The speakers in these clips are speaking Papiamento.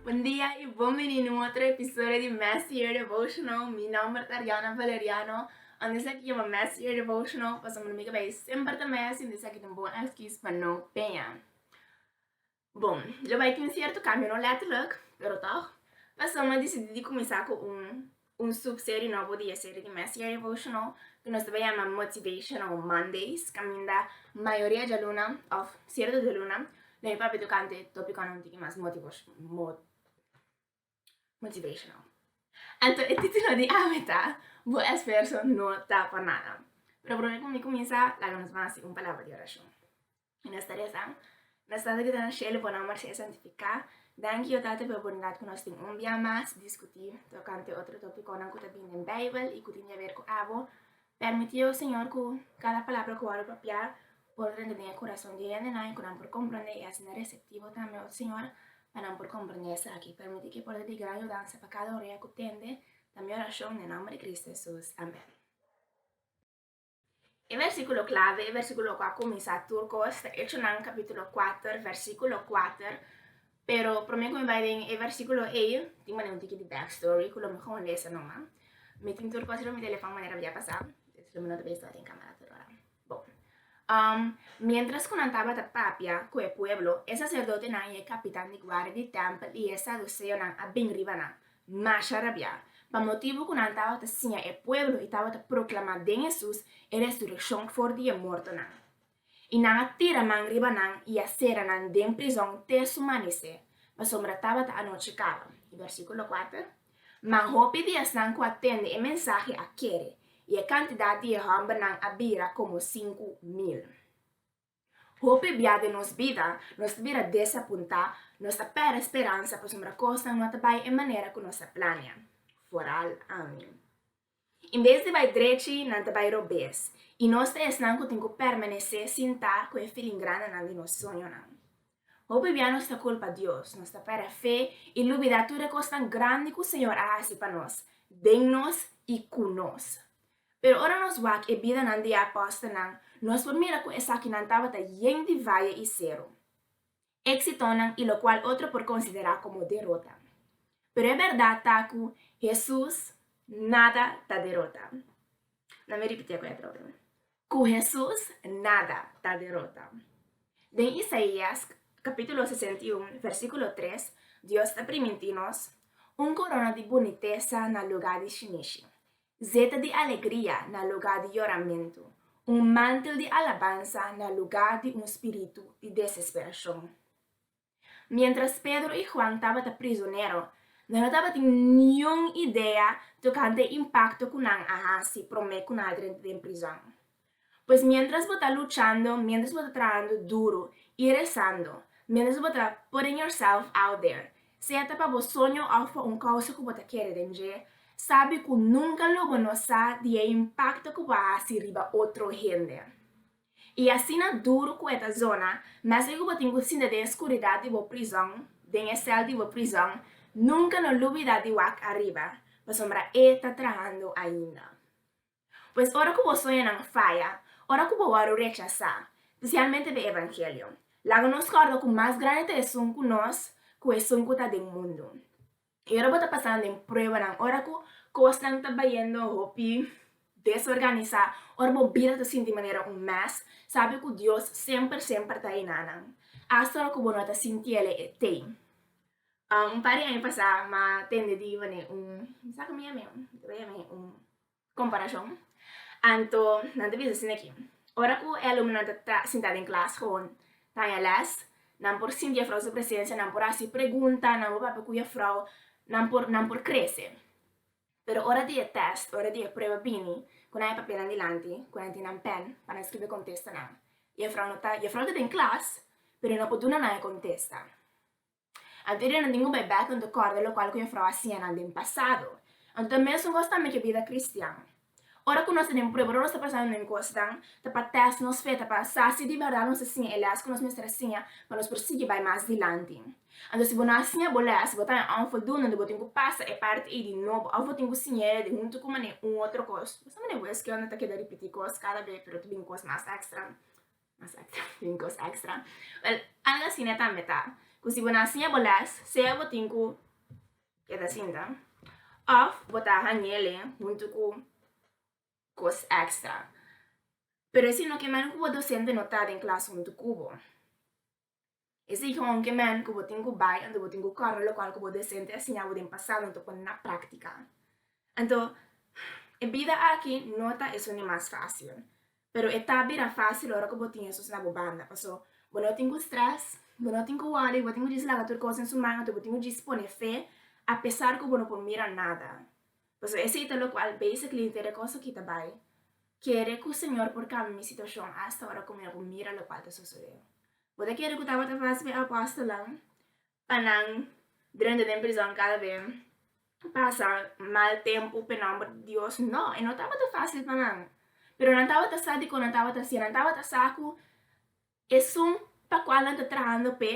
Bon dia y bon bini na un otro episodio di Mes Year Devotional. Mi nomber ta Ariana Valeriano. Anto esaki yama Mes Year Devotional pasobra mi ta bay semper ta mes y anto esaki ta un bon excuse pa no pea. Bon, dja bai tin sierto cambio, no letterlijk, pero toch. Pasobra nos a decidi di cuminsa cu un un subserie nobo di e serie di Messier Devotional, cu nos ta bai yama Motivational Mondays, caminda mayoria djaluna, of sierto djaluna, lo mi papia tocante topiconan un tiki mas motivash mo. Motivational. Anto e titulo di ami ta Bo esfuerso no ta pa nada. Pero prome ku mi kuminsá laga nos ban hasi un palabra di orashon. I nos ta resa, Nos Tata ku ta na shelu, bo nòmber sea santifiká. Danki Yo Tata p'e oportunidat ku nos tin un bia mas di diskutí tokante otro tópikonan ku ta bini den Beibel i ku tin di aber ku abo. Permití, o Señor, ku kada palabra ku wòrdu propiá por renta den e kurason di e hendenan i ku nan por komprondé i asina reseptivo tambe, o Señor, pa nan por komprondé esaki. Permití ku e por ser di gran yudansa pa kada orea ku tende, ta mi orashon den nomber di Kristu Hesus. Amèn. E versíkulo klave, e versíkulo ku a kuminsá tur kos, ta Echonan kapítulo kuater, versíkulo kuater, Pero promé ku mi bai den e versíkulo ei, tin manera un tiki di back story ku lo mi kon lesa numa. Mi tin tur kos riba mi telefòn manera mi a pasá, esaki mi no ta bisa tabata den kámara tur ora. Bon. Um, miéntras ku nan tabata papia ku e pueblo, e saserdotenan i e kapitan di guardia di tèmpel i e saduseonan a bin riba nan, masha rabiá, pa motibu ku nan tabata siña e pueblo i tabata proklamá den Hesus e resurekshon for di e mortonan. I nan a tira man riba nan i a sera nan den prizon te su manesé, pasobra tabata anochi kaba. I bersíkulo kuater, Man hopi di esnan ku a tende e mensahe a kere, i e kantidat di e hòmbernan a bira komo sinku mil. Hopi bia den nos bida nos ta bira desapuntá, nos ta pèrdè speransa pasobra kosnan no ta bai e manera ku nos a plania. Foral, Amin. In bes di bai drechi, nan ta bai robes, i nos ta esnan ku tin ku permanesé sintá ku e filin grandenan di nos sueñonan. Hopi bia nos ta kulpa Dios, nos ta pèrdè fe i lubidá tur e kosnan grandi ku Señor a hasi pa nos, den nos i ku nos. Pero ora nos wak e bidanan di e apòstelnan, nos por mira ku esakinan tabata yen di vaya i seru. éksitonan i lokual otro por konsiderá komo derota. Pero e bèrdat ta ku Hesus nada ta derota. Na mi ripitié ku e atrobe, ku Hesus nada ta derota. Den Isaías kapítulo sesenta i un, versíkulo tres, Dios ta primintí nos, Un korona di bunitesa na lugá di shinishi, Zeta di alegria na lugá di yoramentu, un mantel di alabansa na lugá di un spiritu di desesperashon. Miéntras Pedro i Huan tabata prizonero, nan no tabatin niun idea tokante e impakto ku nan a hasi promé ku nan a drenta den prizòn. Pues miéntras bo ta luchando, miéntras bo ta trahando duro i rezando, miéntras bo ta putting yourself out there, sea ta pa bo soño òf pa un kousa ku bo ta kere den dje, sabi ku nunka lo bo no sa di e impakto ku bo a hasi riba otro hende. I asina duru ku e ta zona, meske ku bo tin ku sinta den e skuridat di bo prizòn, den e sèl di bo prizòn, nunka no lubida di wak ariba, pasobra E ta trahando ainda. Pues ora ku bo soñanan a faya, ora ku bo wòrdu rechasá, spesialmente den evangelio, laga nos kòrda ku mas grandi ta esun ku nos ku esun ku ta den mundu. I ora bo ta pasando den pruebanan, ora ku kosnan ta bayendo hopi desorganisá, ora bo bira ta sinti manera un mès, sabi ku Dios semper semper ta ayuná nan, asta ora ku bo no ta sintiele e tei. Un par di aña pasá, m'a tende di wane un, mi sa ku mi yam'é? Mi ta bai yam'é un. Komparashon, Anto nan ta bisa sin aki, Ora ku e alumnonan ta ta sintá den klas hon taña lès, nan por sinti Jefrou su presensia, nan por hasi pregunta, nan por papia ku Jefrou, nan por nan por krese. Pero ora di e tèst, ora di e prueba bini, ku nan e papia nan dilanti, ku nan tin nan pèn pa nan skirbi kontestonan, Jefrou no ta Jefrou ta den klas, pero e no por duna nan e kontesta. Anterior nan tin un bebé ku no ta kòrda lokual ku Yahweh a hasié nan den pasado. Anto ta mesun kos tambe ku e bida kristian. Ora ku nos ta den prueba, ora ku nos ta pasando den kosnan, ta pa tèst nos fe, ta pa sa si di bèrdat nos a siña e lès ku nos mester a siña pa nos por sigui bai mas dilanti. Anto si bo no a siña bo lès, bo ta en un voldoende, bo tin ku pasa e parti ei di nobo òf bo tin ku siña e di huntu ku manera un otro kos. Bo sa manera wes ke unda ta keda ripití kos kada be, pero ta bin kos mas èkstra. Mas extra, tin cos extra. Wel, al a sina tambe ta cu si bo na siña bo les, sea bo tin cu keda sinta of bo ta hangele huntu cu cos extra. Pero esei no ke mero cu bo docente no ta den klas huntu cu bo. E sigi honke men ku bo tin ku bai anto bo tin ku kòrda lokual ku bo dosente a siña bo den pasado anto pone na práktika. Anto, e bida aki no ta esuni mas fásil, pero e ta bira fásil ora ku bo tin Hesus na bo banda, paso bo no tin ku strès, bo no tin ku wòri, bo tin ku djis laga tur kos den su man anto bo tin ku djis pone fe apesar ku bo no por mira nada. Pasobra esei ta lokual basically un tede kos aki ta bai kere ku Señor por kambia mi situashon asta ora ku mi a por mira lokual ta sosodé. Bo ta kere ku tabata fásil pa e apòstelnan pa nan drenta den prizòn kada be pasa mal tempu p'e nòmber di Dios? No, e no tabata fásil pa nan, pero nan tabata sa dikon nan tabata hasié, nan tabata sa ku Esun pa cual nan ta trahando p'e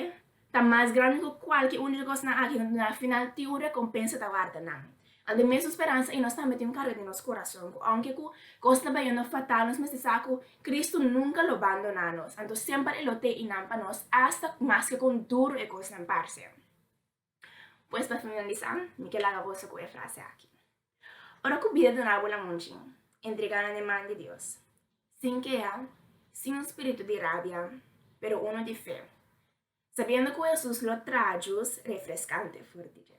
ta mas grandi cu cualke un di e cosnan aki, no tin afinal tin un recompensa ta warda nan. Nan tin mesun speransa i nos tambe tin un carga den nos corazon cu aunke cu cos ta bayendo fatal nos mester sa cu Cristo nunca lo bandona nos, anto semper e lo te i nan pa nos, asta mas ke con duro e cosnan parce. Pues pa finalisa, mi ke laga boso ku e frase aki, Ora ku bida duna bo lamuchi, entrega nan den man di Dios, sin keha, sin un spiritu di rabia, pero uno di fe, sabiendo ku Hesus lo traha jus refreskante for di dje.